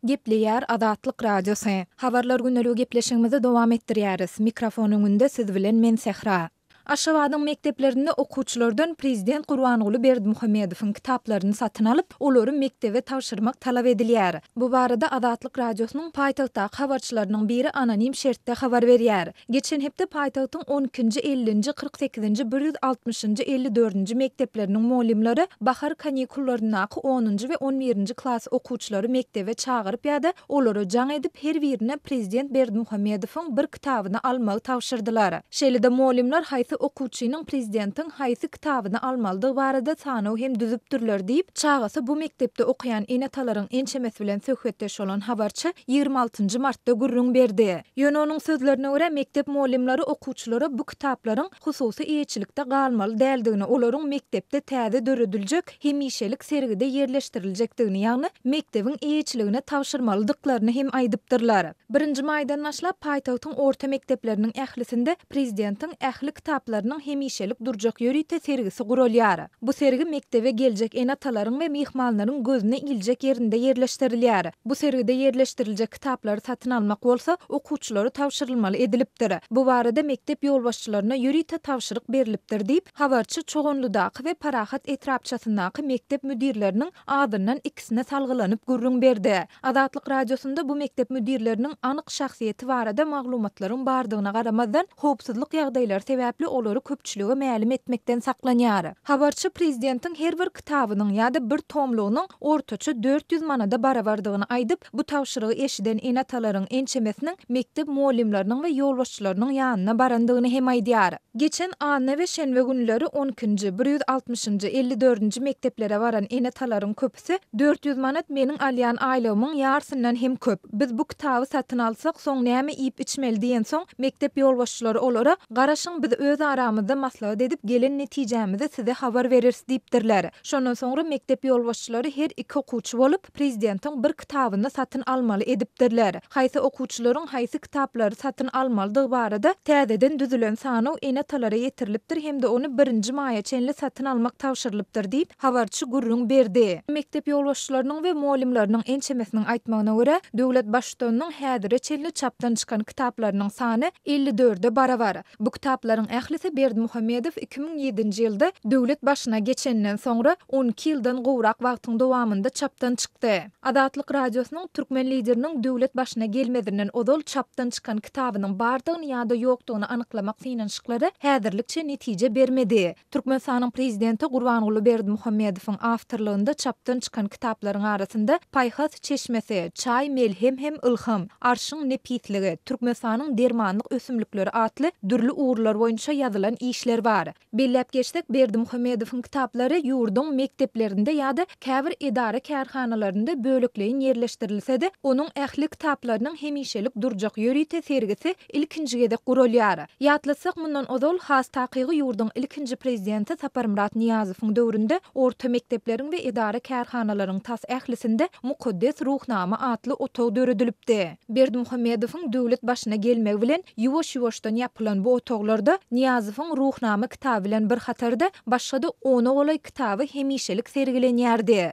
Gepleýär Azatlyk Radiosy. Habarlar güneligi gepleşigimizi dowam etdirýäris. Mikrofon öňünde siz bilen men Sähra. Aşgabadyň mekdeplerinde okuwçylardan prezident Gurbanguly Berdimuhamedowyň kitaplaryny satyn alyp, olary mekdebe tabşyrmak talap edilýär. Bu barada Azatlyk Radiosynyň paýtagtdaky habarçylarynyň biri anonim şertde habar berýär. Geçen hepde paýtagtyň on ikinji, ellinji, kyrk sekizinji, bir ýüz altmyşynjy, elli dördünji mekdepleriniň mugallymlary bahar kanikullaryndaka onunjy we on birinji klas okuwçylary mekdebe çagyryp ýa-da olara jaň edip, her birine prezident Berdimuhamedowyň bir kitabyny almagy tabşyrdylar. Şeýle-de mugallymlar haýsy okuwçynyň prezidentiň haýsy kitabyny almalydygy barada sanaw hem düzüpdirler diýip, çagasy bu mekdepde okaýan ene-atalaryň ençemesi bilen söhbetdeş bolan habarçy ýigrimi altynjy martda gürrüň berdi. Ýöne onuň sözlerine görä, mekdep mugallymlary okuwçylara bu kitaplaryň hususy eýeçilikde galmaly däldigini, olaryň mekdepde täze dörediljek hemişelik sergide ýerleşdiriljekdigini, ýagny mekdebiň eýeçiligine tabşyrmalydyklaryny hem aýdypdyrlar. Birinji maýdan başlap, paýtagtyň orta mekdepleriniň ählisinde prezidentiň ähli kitaplarynyň hemişelik durjak ýörite sergisi guralýar. Bu sergi mekdebe geljek ene-atalaryň we myhmanlaryň gözüne iljek ýerinde ýerleşdirilýär. Bu sergide ýerleşdiriljek kitaplary satyn almak bolsa okuwçylara tabşyrylmaly edilipdir. Bu barada mekdep ýolbaşçylaryna ýörite tabşyryk berlipdir diýip, habarçy Çoganlydaky we Parahat etrapçasyndaky mekdep müdirleriniň azyndan ikisine salgylanyp gürrüň berdi. Azatlyk Radiosynda bu mekdep müdirleriniň anyk şahsyýeti barada maglumatlaryň bardygyna garamazdan, howpsuzlyk ýagdaýlary sebäpli olary köpçülige mälim etmekden saklanýar. Habarçy prezidentiň her bir kitabynyň ýa-da bir tomlugynyň ortaça dört ýüz manada barabardygyny aýdyp, bu tabşyrygy eşiden ene-atalaryň ençemesiniň mekdep mugallymlarynyň we ýolbaşçylarynyň ýanyna barandygyny hem aýdýar. Geçen anna we şenbe günleri on ikinji, bir ýüz altmyşynjy, elli dördünji mekdeplere baran ene-atalaryň köpüsi, Hepse dört ýüz manat meniň alýan aýlygymyň ýarsyndan hem köp. Biz bu kitaby satyn alsak, soň näme iýip-içmeli diýensoň, mekdep ýolbaşçylary olara, Garaşyň, biz öz aramyzda maslahat edip, gelen netijämizi size habar bereris diýipdirler. Şondan soňra mekdep ýolbaşçylary her iki okuwçy bolup, prezidentiň bir kitabyny satyn almaly edipdirler. Haýsy okuwçylaryň haýsy kitaplary satyn almalydygy barada täzeden düzülen sanaw ene-atalara ýetirilipdir hem-de ony birinji maýa çenli satyn almak tabşyrylypdyr diýip, habarçy gürrüň berdi. Mekdep ýolbaşçylarynyň we mugallymlarynyň ençemesiniň aýtmagyna görä, döwlet Baştutanynyň häzire çenli çapdan çykan kitaplarynyň sany elli dörde barabar. Bu kitaplaryň ählisi Berdimuhamedow iki müň ýedinji ýylda döwlet başyna geçeninden soňra on iki ýyldan gowrak wagtyň dowamynda çapdan çykdy. Azatlyk Radiosynyň türkmen Lideriniň döwlet başyna gelmezinden ozal çapdan çykan kitabynyň bardygyny ýa-da ýokdugyny anyklamak synanyşyklary häzirlikçe netije bermedi. Türkmenistanyň Prezidenti Gurbanguly Berdimuhamedowyň awtorlygynda çapdan çykan kitaplaryň arasynda Paýhas çeşmesi, Çaý melhem hem ylham, Arşyň nepisligi, Türkmenistanyň dermanlyk ösümlikleri atly dürli ugurlar boýunça ýazylan işler bar. Belläp geçsek, Berdimuhamedowyň kitaplary ýurduň mekdeplerinde ýa-da käbir edara-kärhanalarynda bölekleýin ýerleşdirilse-de, onuň ähli kitaplarynyň hemişelik durjak ýörite sergisi ilkinji gezek guralýar. Ýatlatsak, mundan ozal, has takygy ýurduň ilkinji prezidenti Saparmyrat Nyýazowyň döwründe orta mekdepleriň we edara-kärhanalaryň tas ählisinde Mukaddes Ruhnama atly otag döredilipdi. Berdimuhamedowyň döwlet başyna gelmegi bilen ýuwaş-ýuwaşdan ýapylan bu otaglarda Nyýazowyň Ruhnama kitaby bilen bir hatarda başga-da ona golaý kitaby hemişelik sergilenýärdi.